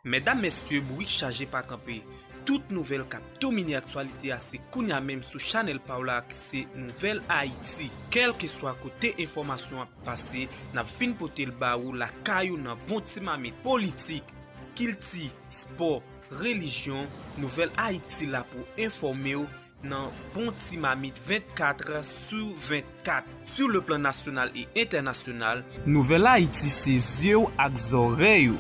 Medam mesye bourik chaje pa kanpe tout nouvel kap domine aktyalite a se kounya menm sou chanel paw la ki se nouvel ayiti kelkeswa kote enfomasyon ap pase nap fin potel ba ou lakay ou nan bon ti mamit politik kilti spò relijyon nouvel ayiti la pou enfomew nan bon ti mamit 24 sou 24 sou le plan nasyonal e entènasyonal. Nouvèl Ayiti se zye w ak zòrèy ou.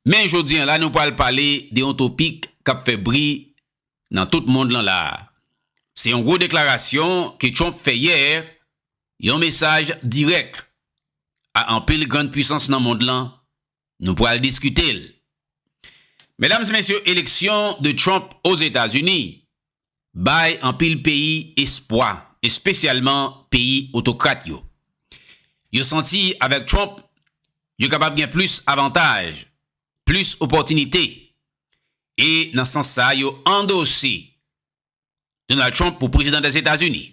Men jodi an la nou pral pale de yon topik k ap fè bri nan tout mond lan la a. Se yon gwo deklarasyon ke Trump fè yè, yon mesaj dirèk a anpil grann pwisans nan mond lan Nou pral diskite l. Medam e mesye eleksyon de Trump Ozetazini bay anpil peyi espwa espesyalman peyi otokrat yo. Yo santi avèk Trump yo kapab gen plis avantaj, plis opòtinite e nan sans sa yo andose Donald Trump pou prezidan dè Etazini.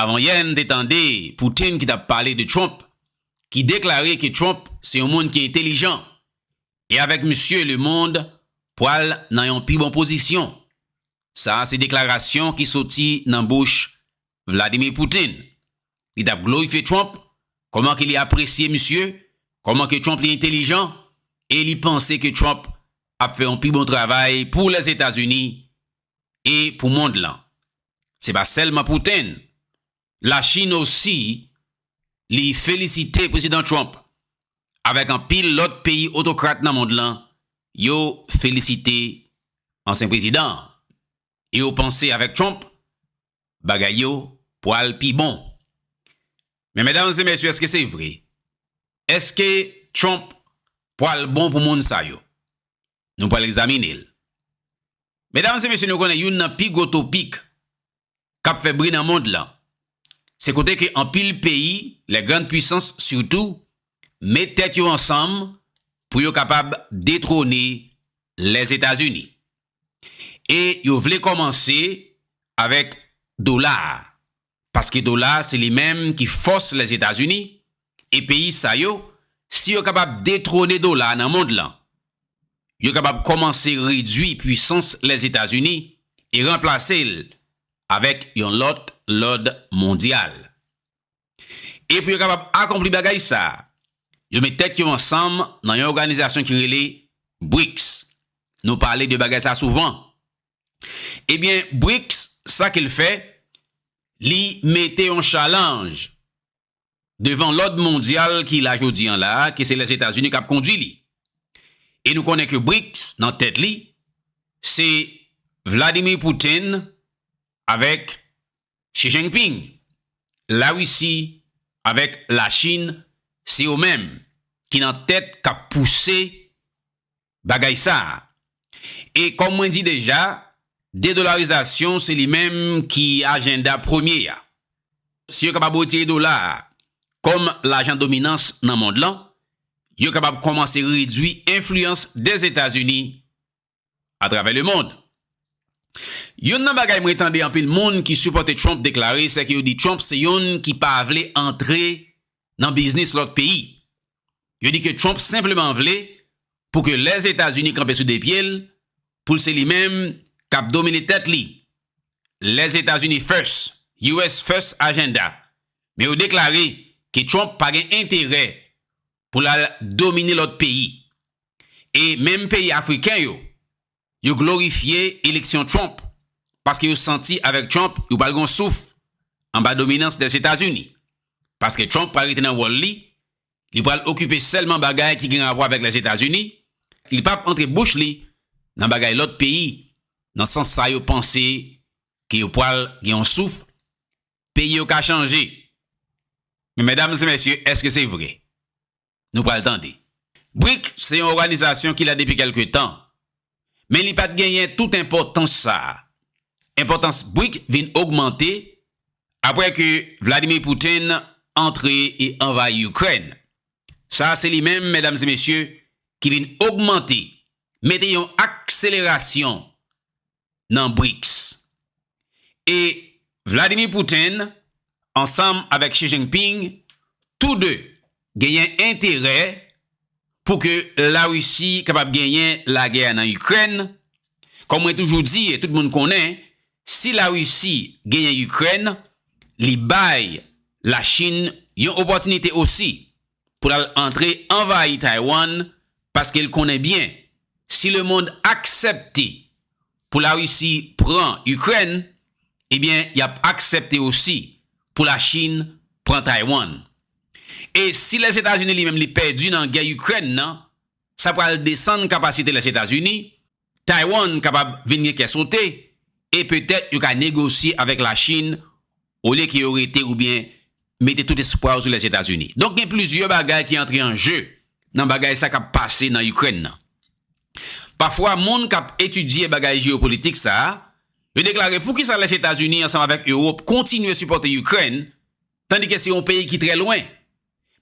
Avan yè n te tande Putin ki tap pale de Trump ki deklare ke Trump se yon moun ki entelijan e avèk misye le mond pwal nan yon pi bon pozisyon. Sa se deklarasyon ki soti nan bouch Vladimir Putin. li tap glorifye Trump, kòman ke li apresye misye, kòman ke Trump li entelijan, e li panse ke Trump ap fè yon pi bon travay pou Lèzetazini e pou mond lan. Se pa sèlman Putin, La Chine osi li felisite Prezidan Trump, avèk anpil lòt peyi otokrat nan mond lan, yo felisite ansyen prezidan an. e yo panse avèk Trump bagay yo pwal pi bon. Men medam e mesye eske se vre? Eske Trump pwal bon pou moun sa yo? Nou pwal egzamine l. Medam e mesye nou konnen youn nan pi gwo topik kap fè bri nan mond lan se kote ke anpil peyi les grandes puissances sitou met tèt yo ansanm pou yo kapab detwone Lèzetazini. e yo vle kòmanse avèk dola a paske dola a se li menm ki fòs Lèzetazini e peyi sa yo si yo kapab detwone dola a nan mond lan yo kapab kòmanse redwi pwisans Lèzetazini e ranplase l avèk yon lòt lòd mondyal. E pou yo kapab akonpli bagay sa a, yo met tèt yo ansanm nan yon òganizasyon ki rele BRICS. Nou pale de bagay sa a souvan. Ebyen, BRICS, sa ke l fè, li mete yon chalanj devan lòd mondyal ki la jodi an la a, ke se Lèzetazini k ap kondui li. E nou konnen ke BRICS, nan tèt li, se Vladimir Putin avèk Xi Jinping, La Risi avèk La Chin se yo menm ki nan tèt k ap pouse bagay sa a. E kòm mwen di deja, dedolarizasyon se li menm ki ajenda premye a. Si yo kapab retire dola a kòm lajan dominans nan mond lan, yo kapab kòmanse redwi enfliyans Dèzetazini atravè lemond. Youn nan bagay mwen tande anpil moun ki sipòte Trump deklare sèke yo di Trump se youn ki pa vle antre nan biznis lòt peyi. Yo di ke Trump senpleman vle pou ke Lèzetazini kanpe sou de pye l, pou l se li menm k ap domine tèt li. Lèzetazini first, US first agenda. Men yo deklare ke Trump pa gen enterè pou l al domine lòt peyi. E menm peyi afriken yo, yo glorifye eleksyon Trump paske yo santi avèk Trump yo pral gen yon souf anba dominans Lèzetazini. Paske Trump pral rete nan wòl li, li pral okipe sèlman bagay ki gen rapò avèk Lèzetazini, li pap antre bouch li nan bagay lòt peyi nan sans sa yo panse ke yo pral gen yon souf Peyi yo ka chanje. Men medam se mesye eske se vre? Nou pral tande. Bric se yon oganizasyon ki la depi kelke tan. Men li pat genyen tout enpotans sa. Enpotans bric vin ogmante apre ke Vladimir Putin antre e anvayi Ikrèn. Sa se li menm medam se mesye ki vin ogmante, mete yon akselerasyon nan BRICS. E Vladimir Putin ansanm avèk Xi Jinping tou 2 genyen enterè pou ke La Risi kapab genyen lagè a nan Ikrèn, kòm mwen toujou di e tout moun konnen, si La Risi genyen Ikrèn, li bay La Chin yon opòtinite osi pou l al antre anvayi Taiwan paske l konnen byen si lemond aksèpte pou Larisi pran Ikrèn ebyen y ap aksèpte osi pou Lachin pran Taiwan. E si Lèzetazini li menm li pèdi nan gè Ikrèn nan sa pral desann kapasite Lèzetazini Taiwan kapab vin gen kè sote e petèt yo ka negosye avèk Lachin olye ke yo rete oubyen mete tout espwa yo sou Lèzetazini. Donk gen plizyè bagay ki antre an je nan bagay sa k ap pase nan Ikrèn nan. Pafwa moun k ap etidye bagay jeyopolitik sa, yo deklare poukisa Lèzetazini ansanm avèk Ewop kontinye sipòte Ikrèn tandike se yon peyi ki trè lwen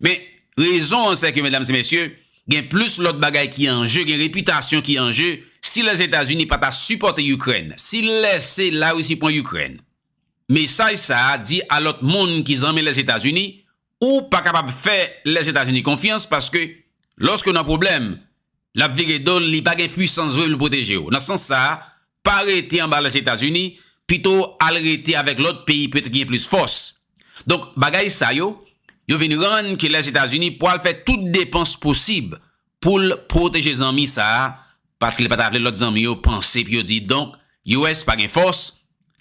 Men, rezon an sèke, medam e mesye, gen plis lòt bagay ki an je, gen repitasyon ki an je, si Lèzetazini pa ta sipòte Ikrèn, si l lèse Larisi pran Ikrèn, mesaj sa a di a lòt moun ki zanmi Lèzetazini, ou pa kapab fè Lèzetazini konfyans paske lòske w nan pwoblèm, l ap vire do l, li pa gen pwisans vre pou l pwoteje w. Nan sans sa a, Pa rete anba Lèzetazini, pito w al rete avèk lòt peyi petèt ki gen plis fòs. Donk, bagay sa yo, yo vin rann ke Lèzetazini pwal fè tout depans posib pou l pwoteje zanmi sa a, paske li pa ta vle lòt zanmi yo panse epi yo di, donk, US pa gen fòs,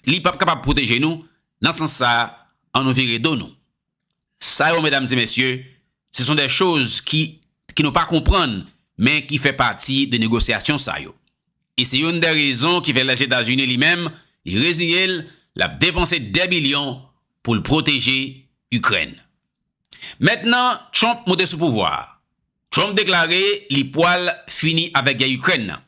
li pap kapab pwoteje nou, nan sans sa a, an nou vire do nou. Sa yo medam e mesye, se son dè choz ki ki nou pa konprann men ki fè pati de negosyasyon sa yo. E se youn dè rezon ki fè Lèzetazini li menm li reziye l l ap depanse dè bilyon pou l pwoteje Ikrèn. Mentnan Trump moute sou pouvwa a, Trump deklare li pwal fini avèk gè Ikrèn nan.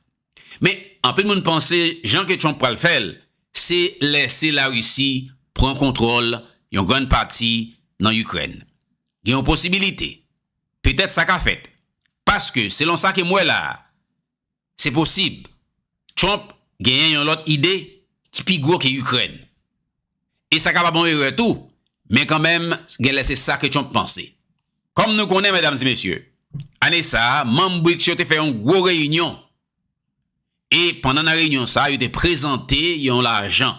Men, anpil moun panse jan ke Trump pral fè l, se lèse Larisi pran kontwòl yon grann pati nan Ikrèn. Gen yon posibilite, petèt sa ka fèt, paske selon sa ke m wè la a, se posib Trump genyen yon lòt ide ki pi gwo ke Ikrèn. E sa kapab yon erè tou, men kanmenm gen lè se sa ke Trump panse. Kòm nou konnen medam e mesye, ane sa a manm BRICS yo te fè yon gwo reyinyon e pandan nan reyinyon sa a yo te prezante yon lajan.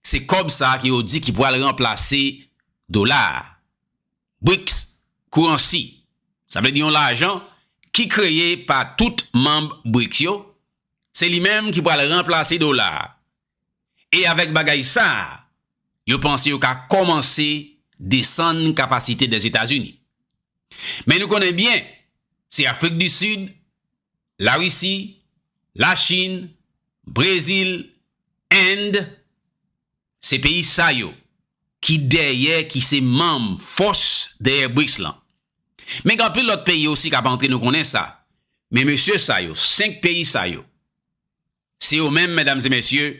Se kòb sa a ke yo di ki pral ranplase dola a. BRICS Currency, sa vle di yon lajan ki kreye pa tout manm BRICS yo, se li menm ki pral ranplase dola a. E avèk bagay sa a, yo panse yo ka kòmanse desann kapasite Lèzetazini. Men nou konnen byen, se Afrik di Sid, Larisi, Lachin, Brezil, End, se peyi sa yo ki dèyè, ki se manm fòs dèyè BRICS lan. Men gen anpil lòt peyi osi k ap antre, nou konnen sa. Men mesye sa yo, 5 peyi sa yo, Se yo menm, medam e mesye,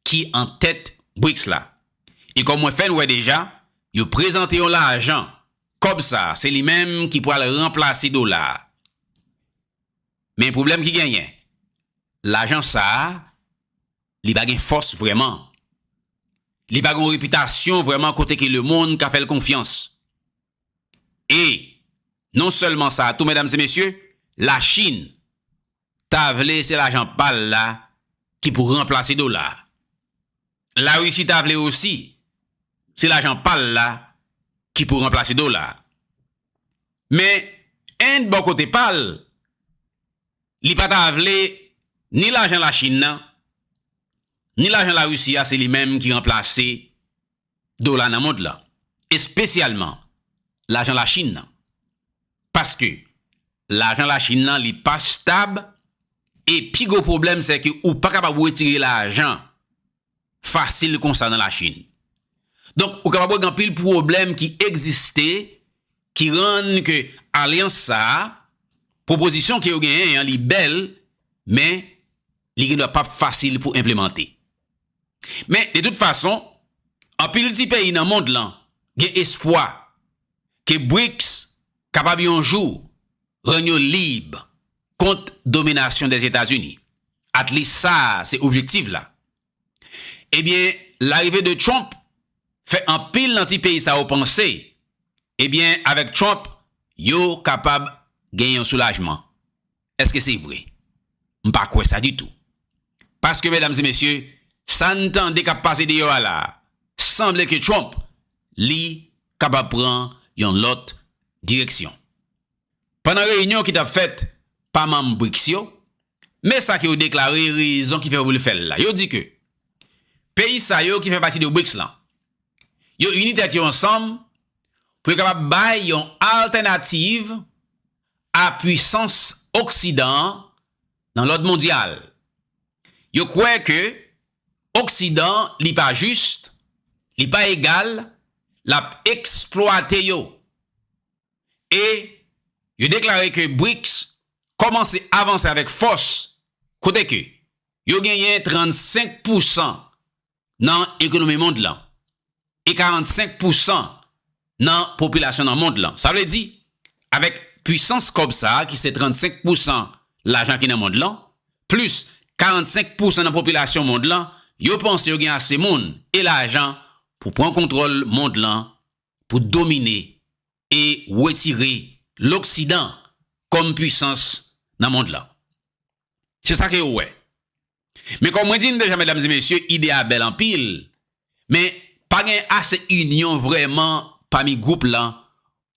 ki an tèt BRICS la. E kòm mwen fè n wè deja, yo prezante yon lajan, kòb sa a, se li menm ki pral ranplase dola a. Men pwoblèm ki genyen, lajan sa a, li pa gen fòs vrèman. Li pa gen yon repitasyon vrèman kote ke lemonn ka fè l konfyans. E, non sèlman sa a tou medam e mesye, Lachin, Ta vle se lajan pa l la ki pou ranplase dola a. Larisi ta vle osi se lajan pa l la ki pou ranplase dola a. Men, End bò kote pa l, li pa ta vle ni lajan Lachin nan, ni lajan Larisi a se li menm ki ranplase dola nan mond lan, espesyalman lajan Lachin nan. Paske, lajan Lachin nan li pa stab e pi gwo pwoblèm se ke ou pa kapab wetire lajan fasil konsa nan Lachin. Donk, ou kapab wè gen anpil pwoblèm ki egziste ki rann ke alyans sa a, pwopozisyon ke yo genyen an li bèl men li gendwa pap fasil pou enplemante. Men, de tout fason, anpil ti peyi nan mond lan gen espwa ke BRICS kapab yon jou rann yo lib kont dominasyon des Etazini. At least sa a se objektiv la. Ebyen, larive de Trump fè anpil nan ti peyi sa yo panse, ebyen avèk Trump yo kapab gen yon soulajman. Eske se vre? M pa kwè sa ditou. Paske medam e mesye, sa n tande k ap pase deyò a la, sanble ke Trump li kapab pran yon lòt direksyon. Pandan reyinyon ki t ap fèt pa manm BRICS yo, men sa ke yo deklare rezon ki fè yo vle fè l la. Yo di ke peyi sa yo ki fè pati de BRICS lan, yo ini tèt yo ansanm pou yo kapab bay yon altènativ a pwisans oksidan an nan lòd mondyal. Yo kwè ke oksidan li pa jis, li pa egal, lap eksplwate yo. E yo deklare ke BRICS kòmanse avanse avèk fòs kote ke yo genyen 35 pousan nan ekonomi mond lan e 45 pousan nan popilasyon nan mond lan. Sa vle di, avèk pwisans kòb sa a ki se 35 pousan lajan ki nan mond lan, plis 45 pousan nan popilasyon mond lan, yo panse yo gen ase moun e lajan pou pran kontwòl mond lan, pou domine e wetire loksidan kòm pwisans nan mond lan. Se sa ke yo wè. Men kòm mwen di n deja medam e mesye ide a bèl anpil men pa gen ase inyon vrèman pami gwoup lan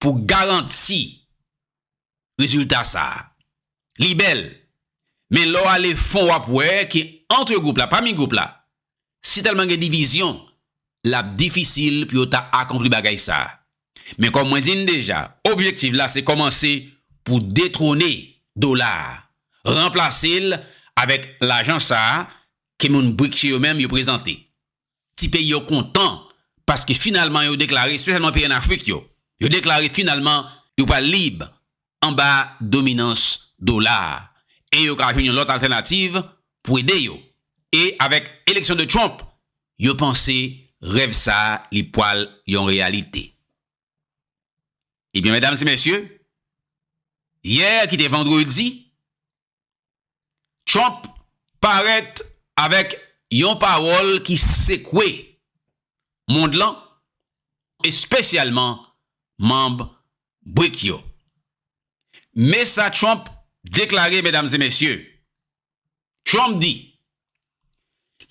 pou garanti rezilta sa. Li bèl men lè w ale fon w ap wè ke antre gwoup la, pami gwoup la Si tèlman gen divizyon, l ap difisil pou yo ta akonpli bagay sa a. Men kòm mwen di n deja, objektiv la se kòmanse pou detwone dola a, ranplase l avèk lajan sa a ke moun BRICS yo menm yo prezante. Ti peyi yo kontan paske finalman yo deklare, espesyalman peyi an Afrik yo, yo deklare finalman yo pral lib anba dominans dola a e yo ka jwenn yon lòt altènativ pou ede yo. E avèk eleksyon de Trump, yo panse rèv sa a li pwal yon reyalite. Ebyen medam e mesye, yè ki te vandredi, Trump parèt avèk yon pawòl ki sekwe mond lan, espesyalman manb BRIC yo. Me sa Trump deklare medam e mesye, Trump di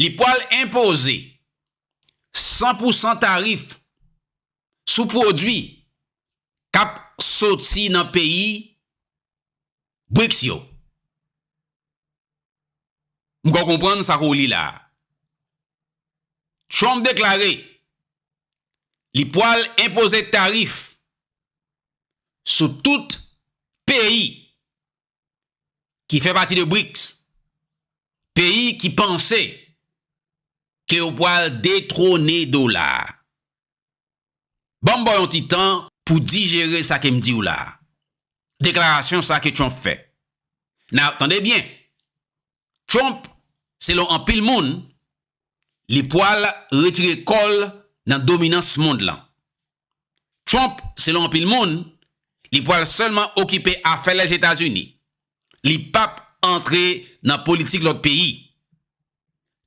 li pwal enpoze 100 pousan tarif sou pwodwi k ap soti nan peyi Brics yo. M kwè w konprann sa ke w li la a. Trump deklare li pwal enpoze tarif sou tout peyi ki fè pati de BRICS, peyi ki panse ke yo pwal detwone dola. Banm baw yon ti tan pou dijere sa kem diw la. Deklarasyon sa ke Trump fè. Now, tande byen, Trump, selon anpil moun, li pwal retire kòl nan dominans mond lan. Trump, selon anpil moun, li pwal sèlman okipe afè Lèzetazini, li pap antre nan politik lòt peyi.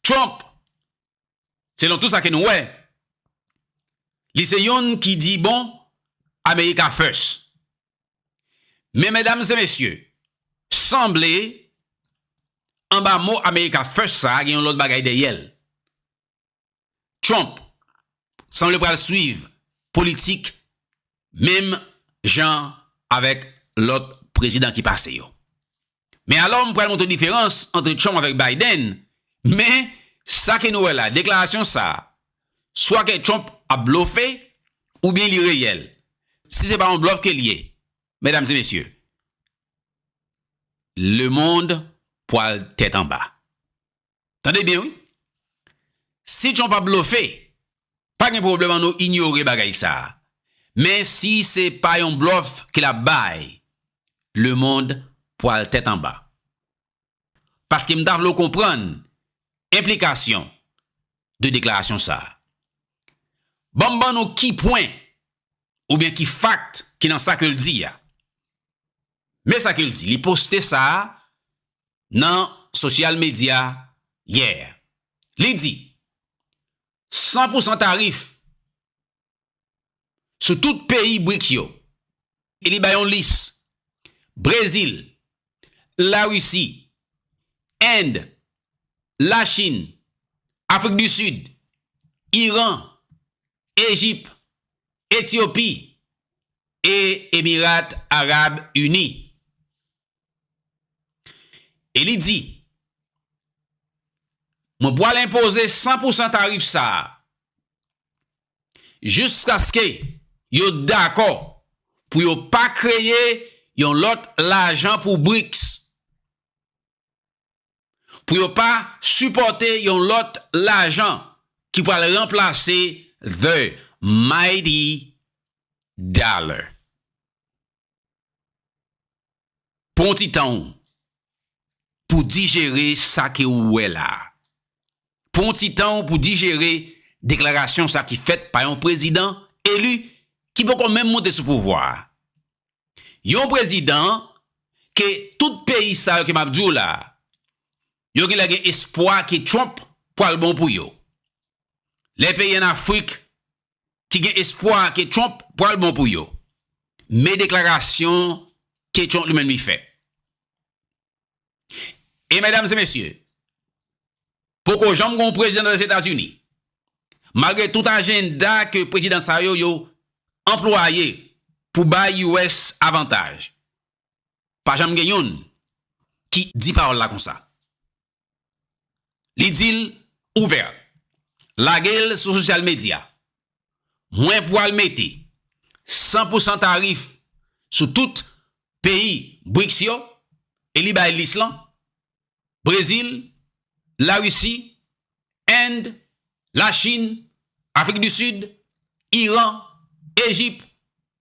Trump, selon tou sa ke nou wè, li se yonn ki di bon America first. Men medam e mesye, sanble anba mo America First sa gen yon lòt bagay dèyè l. Trump sanble pral swiv politik menm jan avèk lòt prezidan ki pase yo. Men alò m pral montre diferans antre Trump avèk Biden, men sa ke nou wè la, deklarasyon sa a, swa ke Trump ap blofe oubyen li reyèl. Si se pa yon blòf ke l ye, medam e mesye, lemond pwal tèt anba. Tande byen wi. Si Trump ap blofe, pa gen pwoblèm an nou inyore bagay sa. Men si se pa yon blòf ke l ap bay, lemond pwal tèt anba. Paske m ta vle w konprann enplikasyon de deklarasyon sa. Ban m ban nou ki pwen oubyen ki fakt ki nan sa ke l di a. Men sa ke l di, li poste sa nan sosyal medya yè. Li di, San pou san tarif sou tout peyi BRICS yo, e li bay yon lis, Brezil, Larisi, End, Lachin, Afrik di Sid, Iran, Ejip, Etyopi e Emirat Arab Ini. E li di, Mwen pral enpoze san pou san tarif sa a jiskaske yo dakò pou yo pa kreye yon lòt lajan pou BRICS, pou yo pa sipòte yon lòt lajan ki pral ranplase the mighty dollar. Pran yon ti tan ou pou dijere sa ke ou wè la. Pran yon ti tan ou pou dijere deklarasyon sa ki fèt pa yon prezidan eli ki poko menm monte sou pouvwa a. Yon prezidan ke tout peyi sa yo ke m ap di w la, yo genlè gen espwa ke Trump pral bon pou yo. Lè peyi an Afrik ki gen espwa ke Trump pral bon pou yo, men deklarasyon ke Trump li menm li fè. E medam e mesye, poko janm gon prezidan nan Lèzetazini, malgre tout ajenda ke prezidan sa yo yo anplwaye pou bay US avantaj, pa janm gen youn ki di pawòl la konsa. Li di l ouvè. Lage l sou sosyal medya. Mwen pwal mete 100 pou 100 tarif sou tout peyi Brics yo e li bay lis lan, Brezil, Larisi, End, Lachin, Afrik di Sid, Iran, Ejip,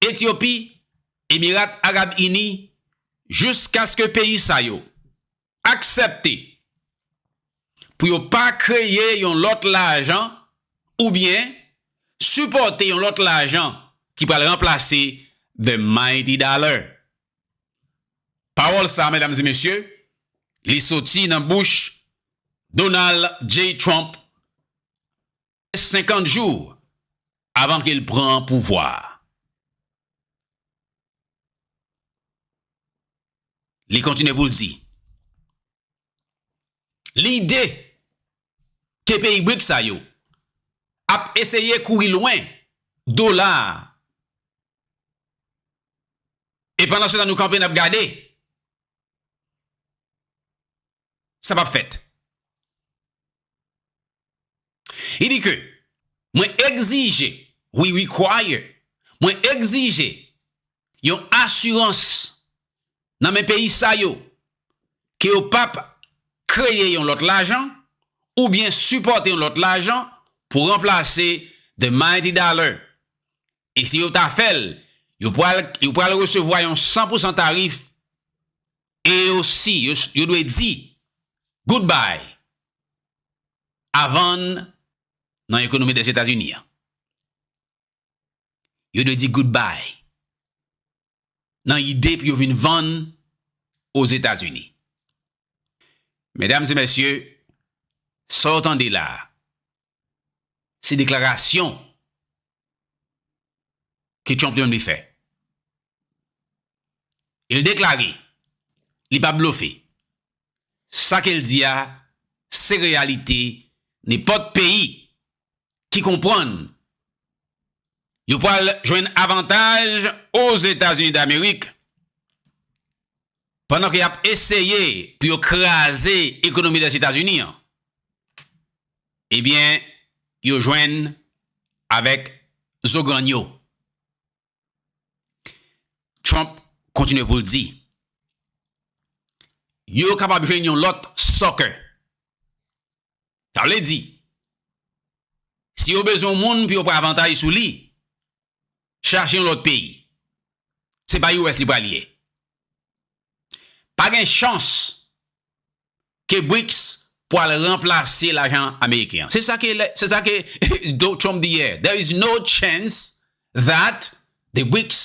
Etyopi, Emirat Arab Ini, jouskaske peyi sa yo aksepte pou yo pa kreye yon lòt lajan oubyen sipòte yon lòt lajan ki pral ranplase the mighty dollar. Pawòl sa, medam e mesye, li soti nan bouch Donald J. Trump rès 50 jou avan ke l pran pouvwa a. Li kontinye pou l di, Lide ke peyi BRICS sa yo ap eseye kouri lwen dola a e pandansetan nou kanpe n ap gade, sa pap fèt. Li di ke mwen egzije, we require, mwen egzije yon asirans nan men peyi sa yo ke yo pap kreye yon lòt lajan oubyen sipòte yon lòt lajan pou ranplase the mighty dollar. E si yo ta fè l, yo pral resevwa yon san pousan tarif e yo si yo dwe di goodbye a vann nan ekonomi Dèzetazini an. Yo dwe di goodbye nan ide pou yo vin vann Ozetazini. Medam e mesye, sa w tande la a, Se deklarasyon ke Trump li menm li fè. E l deklare, li pa blofe. Sa ke l di a, se reyalite nenpòt peyi ki konprann yo pral jwenn avantaj Ozetazini Damerik. pandan ke yap eseye pou yo kraze ekonomi Lèzetazini an, ebyen yo jwenn avèk zo grann yo. Trump kontinye pou l di, Yo kapab jwenn yon lòt sucker. Sa vle di, si yo bezwen yon moun pou yo pran avantaj sou li, chache yon lòt peyi se pa US li pral ye pa gen chans ke Brics pwal ranplase lajan ameriken an se sa ke se sa ke Donald Trump di yè there is no chance that the Brics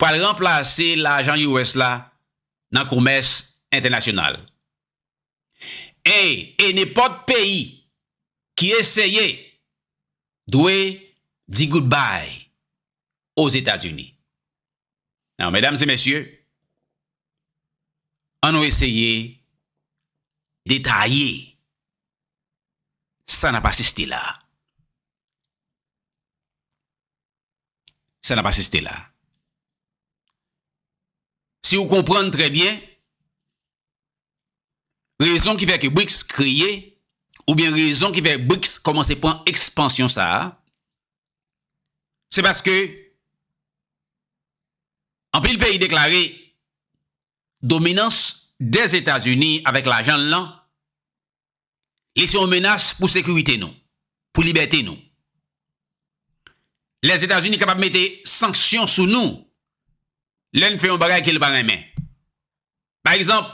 pwal ranplase lajan US la nan komès entènasyonal Ey e nenpòt peyi ki eseye dwe di goodbye o Zetazini. Nan medam e mesye an nou eseye detaye sa nap asiste la. Sa nap asiste la. Si ou konprann trè byen Rezon ki fè ke BRICS kreye, oubyen rezon ki fè BRICS kòmanse pran ekspansyon sa a, se paske anpil peyi deklare dominans Dèzetazini avèk lajan l lan Li se yon menas pou sekirite nou, pou libète nou. Lèzetazini kapab mete sanksyon sou nou lè n fè yon bagay ke l pa renmen. Pa egzanp,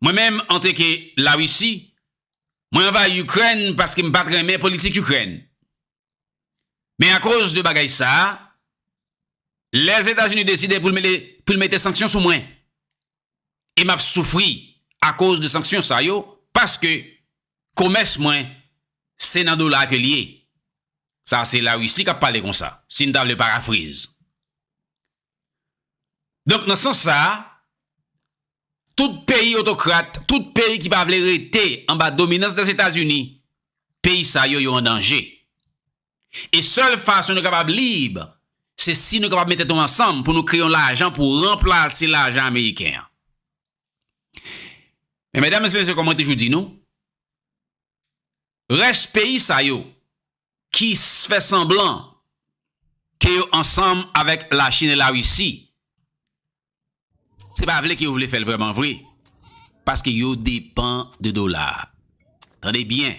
mwen menm anteke Larisi, mwen anvayi Ikrèn paske m pa t renmen politik Ikrèn. Men akoz de bagay sa a, Lèzetazini deside pou l mete sanksyon sou mwen. E m ap soufri akoz de sanksyon sa yo paske komès mwen se nan dola ke l ye. Sa se Larisi k ap pale konsa, si n ta vle parafrize. Donk nan sans sa a, Tout peyi otokrat, tout peyi ki pa vle rete anba dominans Lèzetazini, peyi sa yo yo an danje. E sèl fason nou kapab lib, se si nou kapab met tèt nou ansanm pou nou kreye yon lajan pou ranplase lajan ameriken an. Men medam e mesye kòm mwen toujou di nou, rès peyi sa yo ki fè sanblan ke yo ansanm avèk Lachin e Larisi, Se pa vle ke yo vle fèl vrèman vre, paske yo depan de dola a. Tande byen,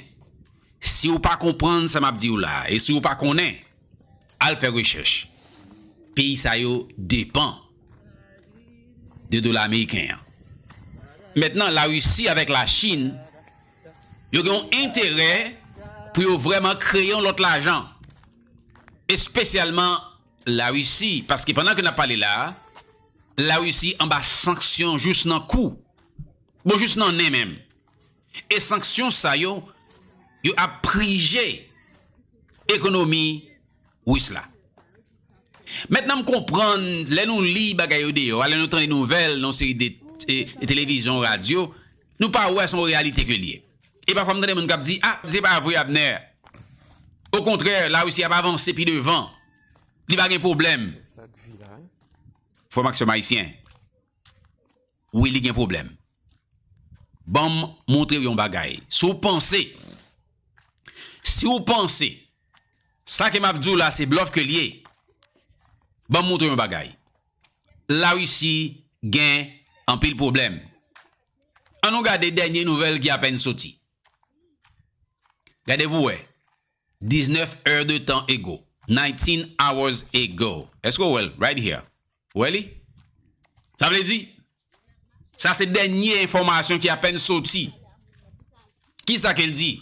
si ou pa konprann sa map diw la, e si ou pa konnen, al fè rechèch. Peyi sa yo depan de dola ameriken an. Mentnan la Risi avèk la Chin, yo gen yon enterè pou yo vrèman kreye yon lòt lajan, espesyalman La Risi, paske pandan ke nap pale la a, La Risi anba sanksyon jous nan kou, bon jous nan nen menm. E sanksyon sa yo, yo ap prije ekonomi Ris la. Mentnan m konprann, lè nou li bagay yo deyò a, lè nou tande nouvèl nan yon seri de televizyon, radyo, nou pa wè se yon reyalite ke li ye. E pafwa m tande moun k ap di, a, se pa vre Abner. Okontrè, Larisi ap avanse pi devan. Li pa gen pwoblèm. Frè m ak sè m ayisyen, wi li gen pwoblèm. Ban m montre w yon bagay. Si w panse, si w panse, sa ke m ap di w la se blòf ke l ye, ban m montre w yon bagay. Larisi gen anpil pwoblèm. An nou gade dènye nouvèl ki apèn soti. Gade pou wè. 19 heures de temps ago. 19 hours ago. Èske ou wè l? Right here. Ou wè li? Sa vle di? Sa se dènye enfòmasyon ki apèn soti. Kisa ke l di?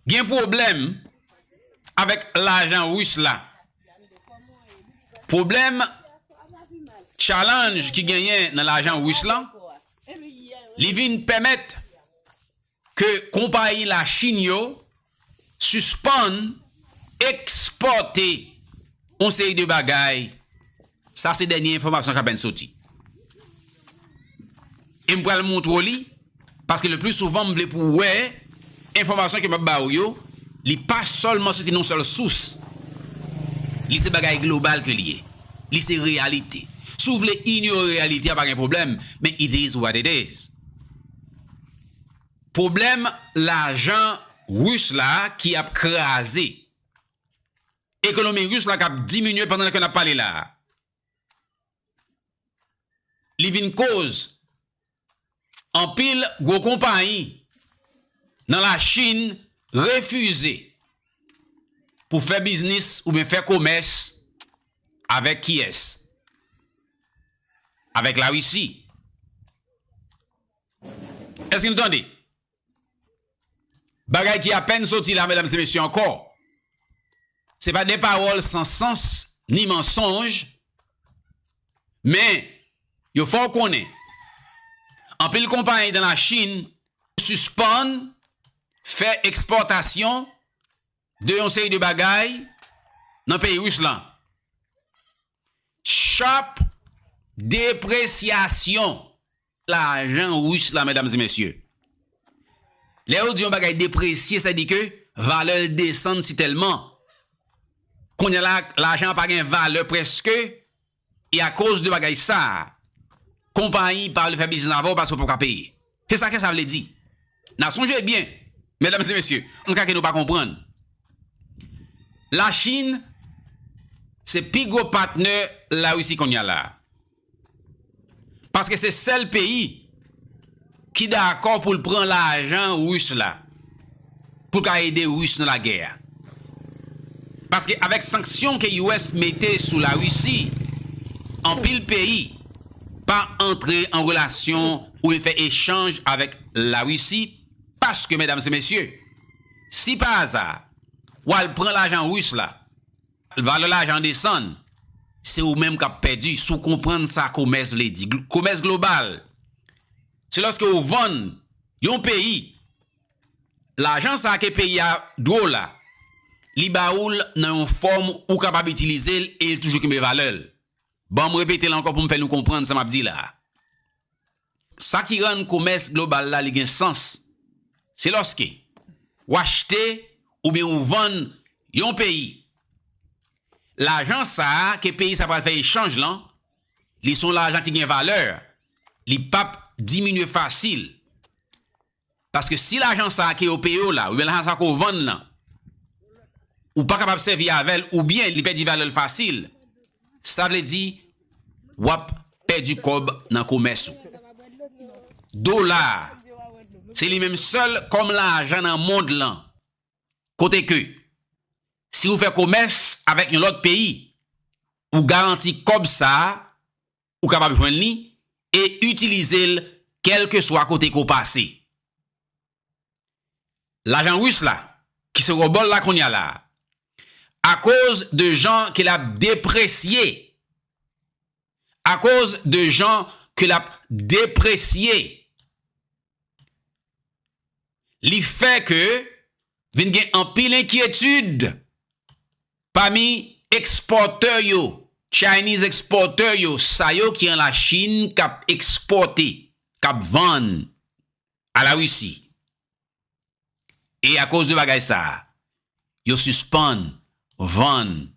Gen pwoblèm avèk lajan Ris la. Pwoblèm challenge ki genyen nan lajan Ris la, li vin pèmèt ke konpayi la Chine yo sispann ekspòte yon seri de bagay. Sa se dènye enfòmasyon k apèn soti. E m pral montre w li, paske le pli souvan m vle pou w wè enfòmasyon ke m ap ba ou yo, li pa sèlman soti nan yon sèl sous. Li se bagay global ke li ye. Li se reyalite. Si w vle inyore reyalite a pa gen pwoblèm, men it is what it is. Pwoblèm lajan Ris la ki ap kraze. Ekonomi Ris la k ap diminye pandan ke n ap pale la a, li vin koz anpil gwo konpayi nan Lachin refize pou fè biznis oubyen fè komès avèk kiyès? Avèk Larisi. Èske nou tande? Bagay ki apèn soti la medam se mesye ankò. Se pa de pawòl san sans ni mansonj men yo fè w konnen anpil konpayi dan la Chine sispann fè ekspòtasyon de yon seri de bagay nan peyi Ris lan. Sharp depresyasyon. lajan Russe la medam e mesye. Lè yo di yon bagay depresye sa di ke valè l desann si tèlman. Kounya la lajan an pa gen valè preske e a koz de bagay sa konpayi pa vle fè biznis avè w paske w pap ka peye. Se sa ke sa vle di. Na sonje byen medam e mesye an ka ke nou pa konprann. La Chine se pi gwo patnè la Rusi kounya la. Paske se sèl peyi ki dakò pou l pran lajan Ris la pou l ka ede Ris nan lagè a. Paske avèk sanksyon ke US mete sou la Risi, anpil peyi pa antre an relasyon oubyen fè echanj avèk la Risi paske medam se mesye, si pa aza wal pran lajan Ris la, Valè lajan desann, se ou menm k ap pèdi si w konprann sa komès vle di. Komès global, se lòske ou vann yon peyi, lajan sa ke peyi a dwe w la, li ba ou l nan yon fòm ou kapab itilize l e li toujou kenbe valè l. Ban m repete l ankò pou m fè nou konprann sa m ap di la a. Sa ki rann komès global la li gen sans, se lòske w achte oubyen ou vann yon peyi. Lajan sa a ke peyi sa pral fè echanj lan, li son lajan ki gen valè, li pap diminye fasil. Paske si lajan sa ke yo peye w la, oubyen lajan sa ke w vann lan, ou pa kapab sèvi avè l, oubyen li pèdi valè l fasil, sa vle di w ap pèdi kòb nan komès ou. Dola a, se li menm sèl kòm lajan nan mond lan, kote ke si ou fè komès avèk yon lòt peyi, ou garanti kòb sa a ou kapab jwenn li e itilize l kèlkeswa kote ke w pase. Lajan Ris la, ki se Robol la kounye a la, akoz de jan ke l ap depresye, akoz de jan ke l ap depresye, li fè ke vin gen anpil enkyetid Pami ekspòtè yo, Chinese exporter yo, sa yo ki an la Chin kap ekspòte, kap vann a la Russie. E akoz de bagay sa, yo sispann vann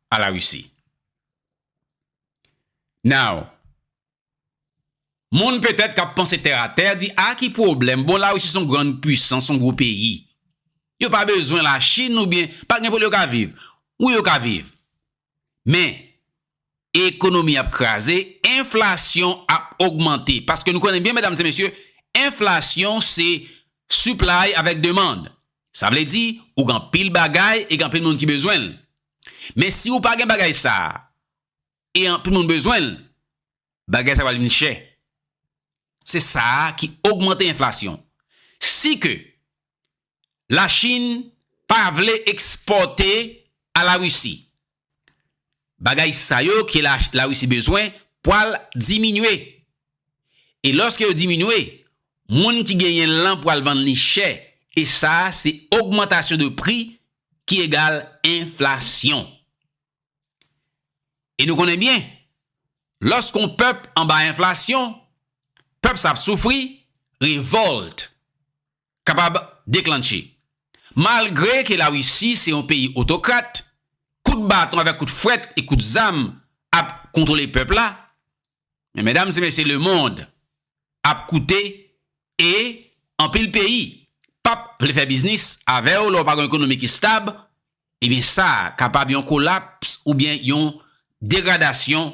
a la Russie. Now, moun petèt kap panse tè a tè di a ki pwoblèm, bon la Russie son grand puissance, son gwo peyi. Yo pa bezwen la Chine oubyen pa gen pou l yo ka viv. Wi yo ka viv. Men, Ekonomi ap kraze, enflasyon ap ogmante. Paske nou konnen byen medam se mesye, enflasyon se supply avèk demand. Sa vle di, ou gen anpil bagay e gen anpil moun ki bezwen l. Men si ou pa gen bagay sa a, e anpil moun bezwen l, bagay sa a pral vin chè. Se sa a ki ogmante enflasyon. Si ke La Chine pa vle ekspòte a la Russie. Bagay sa yo ke la Russie bezwen pwal diminye. E lòske yo diminye, moun ki genyen l lan pwal vann li chè e sa se ogmantasyon de pri ki egal enflasyon. E nou konnen byen, lòske yon pèp anba enflasyon, pèp sa ap soufri, revolt. kapab deklanche. Malgre ke La Risi se yon peyi otokrat, kout baton avèk kout fwèt e kout zam ap kontwole pèp la, men medam se mesye lemond ap koute e anpil peyi pap vle fè biznis avèw lè w pa gon ekonomi ki stab, ebyen sa kapab yon kolaps oubyen yon degradasyon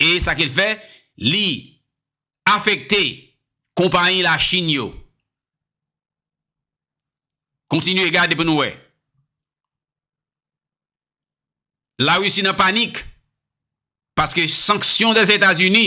e sa ke l fè li afekte konpayi Lachin yo. Kontinye gade pou nou wè. Larisi nan panik paske sanksyon Dèzetazini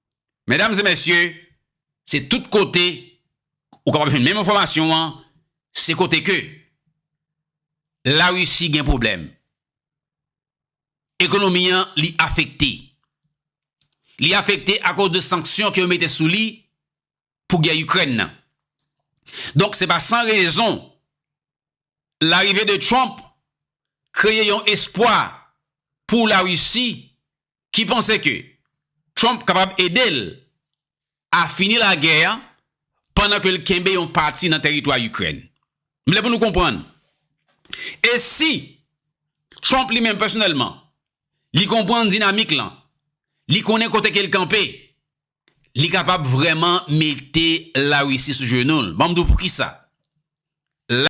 Medam e mesye, se tout kote ou kapab jwenn menm enfòmasyon an, se kote ke La Risi gen pwoblèm. Ekonomi an li afekte. Li afekte akoz de sanksyon ke yo mete sou li pou gè Ikrèn nan. Donk se pa san rezon larive de Trump kreye yon espwa pou La Risi ki panse ke Trump kapab ede l a fini lagè a pandan ke l kenbe yon pati nan tèritwa Ikrèn. M vle pou nou konprann, e si Trump li menm pèsonèlman, li konprann dinamik lan, li konnen kote ke l kanpe, li kapab vrèman mete Larisi sou jenou l. Ban m di w poukisa.